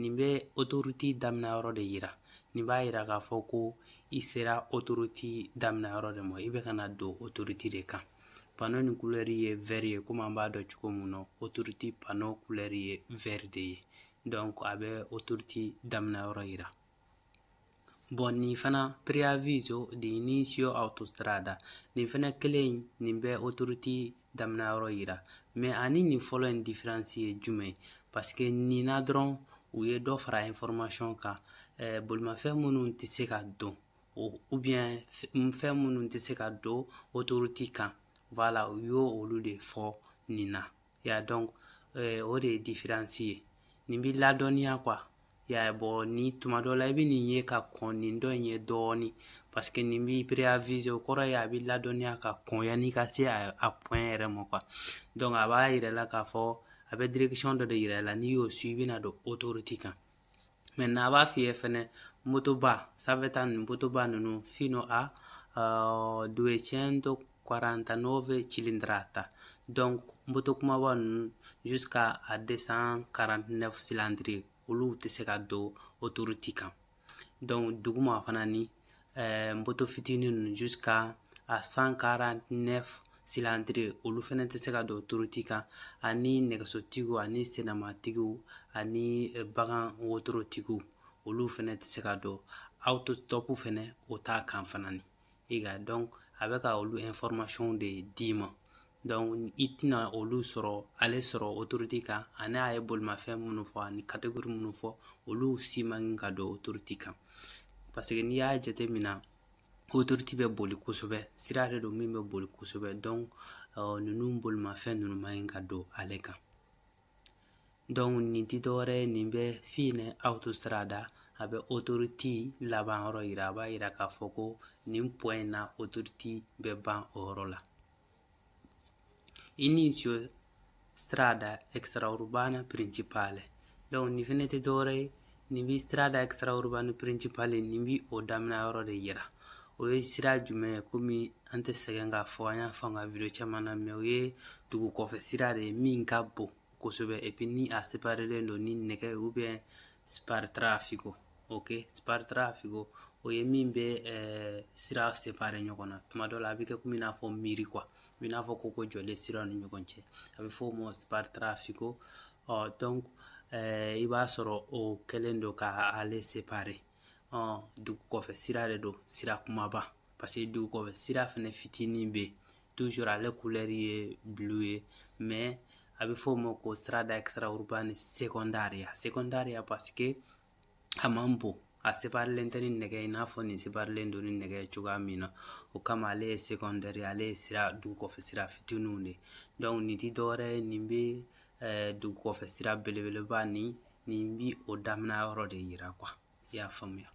nin bɛ otoriti daminɛ yɔrɔ de yira nin b'a yira k'a fɔ ko i sera otoriti daminɛ yɔrɔ de ma i bɛ ka na don otoriti de kan pano ni kulɛri ye vɛri ye komi an b'a dɔn cogo min na otoriti pano kulɛri ye vɛri de ye dɔnku a bɛ otoriti daminɛ yɔrɔ yira Bɔn nin fana preaviso de inicio autostrada nin fana kelen in nin bɛ otoriti damina yɔrɔ yira mɛ ani nin fɔlɔ in diferansi ye jumɛn paske nin na dɔrɔn u ye dɔ fara information kan eh, bolimafɛn minnu tɛ se ka don ubiyɛn fɛn minnu tɛ se ka don otoriti kan wala u y'olu de fɔ nin na ya dɔnku o de ye diferansi ye nin b'i ladɔnniya kuwa ya bɔn ni tuma dɔ la i bɛ nin ye ka kɔn nin dɔ in ye dɔɔni paseke nin b'i preavize o kɔrɔ ye a b'i ladɔnniya ka kɔn yanni ka se a pwɛn yɛrɛ ma kuwa dɔnku a b'a yira i la k'a fɔ a bɛ direkisiyɔn dɔ de yira i la n'i y'o su i bɛna don otoriti kan maintenant a b'a f'i ye fɛnɛ motoba sanfɛ ta ninnu motoba ninnu fino a uh, 249 cilindrata donc moto kumaba ninnu jusqu'à a 249 cylindre olu tɛ se ka don autoroute kan donc duguma fana ni ɛɛ moto fitinin ninnu jusika a san karante nɛfu silandire olu fɛnɛ tɛ se ka don otoruti kan ani nɛgɛsotigiw ani senamatigiw ani bagan wotorotigiw olu fɛnɛ tɛ se ka don otositɔpu fɛnɛ o t'a kan fana ni i ka dɔnku a bɛ ka olu information de d'i ma i tɛna olu sɔrɔ ale sɔrɔ otorute kan ani a ye bolimafɛn minnu fɔ ani kategori minnu fɔ olu si man ka don otorute kan paseke n'i y'a jateminɛ otorite bɛ boli kosɛbɛ sira de don min bɛ boli kosɛbɛ dɔnku ninnu bolimafɛn ninnu man ɲi ka don ale kan dɔnku nin tɛ dɔwɛrɛ ye nin bɛ fine autostrada a bɛ otoriti laban yɔrɔ yira a b'a yira k'a fɔ ko nin pwɛn in na otoriti bɛ ban o yɔrɔ la Inizio strada extraurbana principale donc nin fɛnɛ tɛ dɔwɛrɛ ye nin bi strada extraurbana principale nin bi o daminɛ yɔrɔ de yira o ye sira jumɛn ye komi an tɛ sɛgɛn k'a fɔ an y'a fɔ an ka video caman na mɛ o ye dugu kɔfɛ sira de ye min ka bon kosɛbɛ epi ni a separelen don ni nɛgɛ ubiyɛn spartitraffico ok spartitraffico o ye min bɛ sira separe ɲɔgɔn na tuma dɔ la a bɛ kɛ komi i n'a fɔ miiri quoi i n'a fɔ koko jɔlen siraw ni ɲɔgɔn cɛ a bɛ fɔ o ma spartitraffico ɔ donc i b'a sɔrɔ o kɛlen don ka ale separe ɔ dugu kɔfɛ sira de don sira kumaba parce que dugu kɔfɛ sira fɛnɛ fitinin bɛ yen toujours ale kulɛri ye bulu ye mais a bɛ fɔ o ma ko strada extraurbana secondaria secondaria parce que a man bon a separilen tɛ ni nɛgɛ i n'a fɔ nin separilen don ni nɛgɛ ye cogoya min na o kama ale ye secondaire ale ye sira dugu kɔfɛ sira fitininw de donc nin ti dɔwɛrɛ ye nin bɛ eh, dugu kɔfɛ sira belebeleba ni nin bi o daminɛ yɔrɔ de yira quoi i y'a faamuya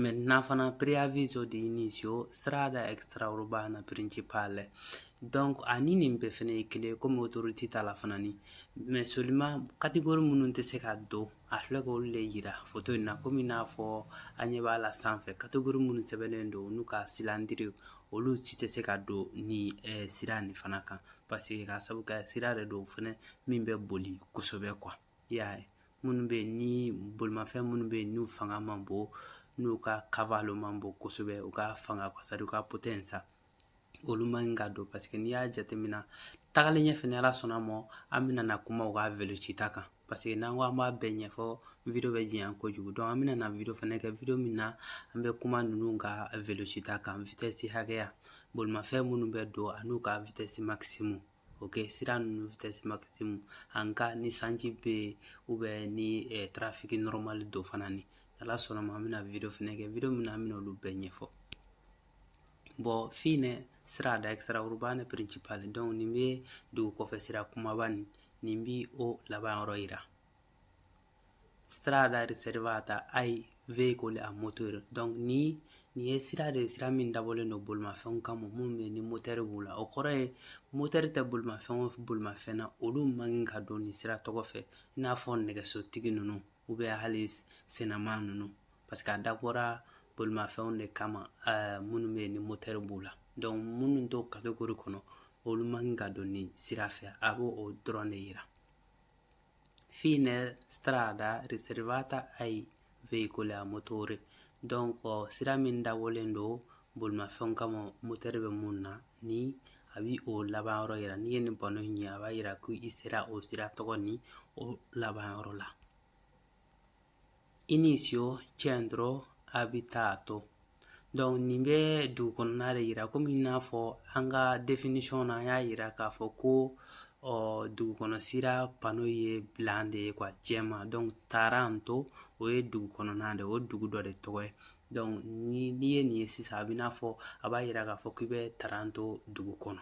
maintenant fana preavviso di inizio strada extraurbana principale donc ani nin bɛɛ fɛnɛ ye kelen komi autoroute ta la fana ni mais seulement catégorie minnu tɛ se ka don a filɛ ka olu de yira foto in na komi n'a fɔ an ɲɛ b'a la sanfɛ catégorie minnu sɛbɛnnen don n'u ka silandiriw olu si tɛ se ka don ni eh, sira nin fana kan parce que ka sabu kɛ sira de don fɛnɛ min bɛ boli kosɛbɛ quoi I y'a ye minnu bɛ yen ni bolimafɛn minnu bɛ yen n'u fanga man bon n'u ka cavallo man bon kosɛbɛ u ka fanga c'est-à-dire u ka potenza olu man ɲi ka don parce que n'i y'a jateminɛ tagalen ɲɛfɛ ni ala sɔnna ma an bɛna na kuma u ka velocità kan parce que n'an ko an b'a bɛɛ ɲɛfɔ video bɛ janya kojugu donc an bɛna na video fana kɛ video min na an bɛ kuma ninnu ka velocità kan vitɛsi hakɛya bolimafɛn minnu bɛ don an'u ka vitɛsi makisimu ok sira ninnu vitɛsi makisimu en cas ni sanji bɛ ou bien ni tarafiki nɔrɔmali don fana ni ala sɔnna ma an bɛna wideyo fana kɛ wideyo min na an bɛna olu bɛɛ ɲɛfɔ bon fine strada extraurbana principale donc nin bɛ dugu kɔfɛ sira kumaba nin nin bi o laban yɔrɔ yira strada riservata ai veicoli a moteur donc ni nin ye sira de ye sira min dabɔlen don bolimafɛnw kama minnu bɛ ni motɛri b'u la o kɔrɔ ye motɛri tɛ bolimafɛn o bolimafɛn na olu man kan ka don nin sira tɔgɔ fɛ i n'a fɔ nɛgɛsotigi ninnu hali sennaman ninnu parce que a dabɔra bolimafɛnw de kama minnu bɛ yen ni motɛri b'u la minnu t'o kategori kɔnɔ olu man kan ka don nin sira fɛ a b'o o dɔrɔn de yira fine strada riservata ai veicoli a motore donc sira min dabɔlen don bolimafɛnw kama motɛri bɛ mun na ni a bi o laban yɔrɔ yira n'i ye nin panneau in ye a b'a yira ko i sera o sira tɔgɔ ni o laban yɔrɔ la Inizio centro abitato donc nin bɛ dugu kɔnɔna de yira komi i n'a fɔ an ka definition na an y'a yira k'a fɔ ko dugukɔnɔ sira pano ye blanc de ye quoi jɛman donc Taranto o ye dugu kɔnɔna de o dugu dɔ de tɔgɔ ye donc n'i ye nin ye sisan a b'i n'a fɔ a b'a yira k'a fɔ k'i bɛ Taranto dugu kɔnɔ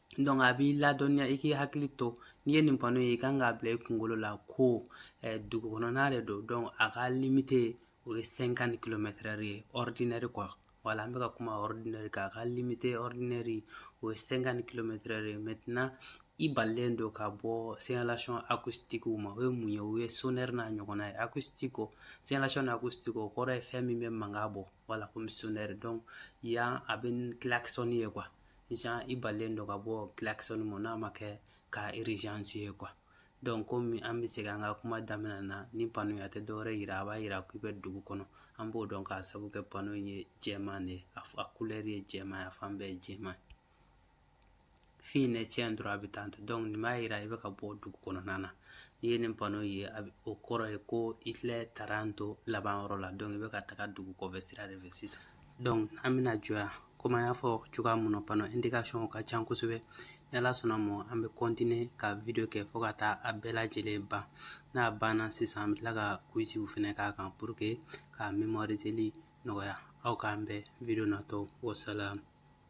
a b'i ladɔnniya i k'i hakili to n'i ye nin pano ye i kan k'a bila i kunkolo la ko eh, dugu kɔnɔna de don donc a ka limite o ye 50 kilomètre heure ye ordinaire quoi voilà an bɛ ka kuma ordinaire kan a ka limite ordinaire o ye 50 kilomètre heure ye maintenant i balilen don ka bɔ signalation acoustique ma o ye mun ye o ye sonnerie n'a ɲɔgɔnna ye acustico segnalazione acustico kɔrɔ ye fɛn min bɛ mankan bɔ voilà komi sonnerie donc yan a bɛ klaxon ye quoi genre i balilen don ka bɔ klaxon ma n'a ma kɛ cas urgence ye quoi donc komi an bɛ segin an ka kuma daminɛ na nin pano a tɛ dɔwɛrɛ yira a b'a yira k'i bɛ dugu kɔnɔ an b'o dɔn k'a sabu kɛ pano ye jɛman de ye a couleur ye jɛman ye a fan bɛɛ ye jɛman ye Fine centro abitato donc nin b'a yira i bɛ ka bɔ dugu kɔnɔna na n'i ye nin pano ye a bɛ o kɔrɔ ye ko i filɛ Taranto laban yɔrɔ la donc i bɛ ka taga dugu kɔfɛ sira de fɛ sisan donc an bɛna jɔ yan komi an y'a fɔ cogoya mun na pano indicationw ka ca kosɛbɛ ni Ala sɔnna ma an bɛ continuer ka video kɛ fɔɔ ka taa a bɛɛ lajɛlen ban n'a banna sisan an bɛ tila ka quizw fɛnɛ k'a kan pour que ka mémoriseli nɔgɔya aw k'an bɛn video natɔw wasalamu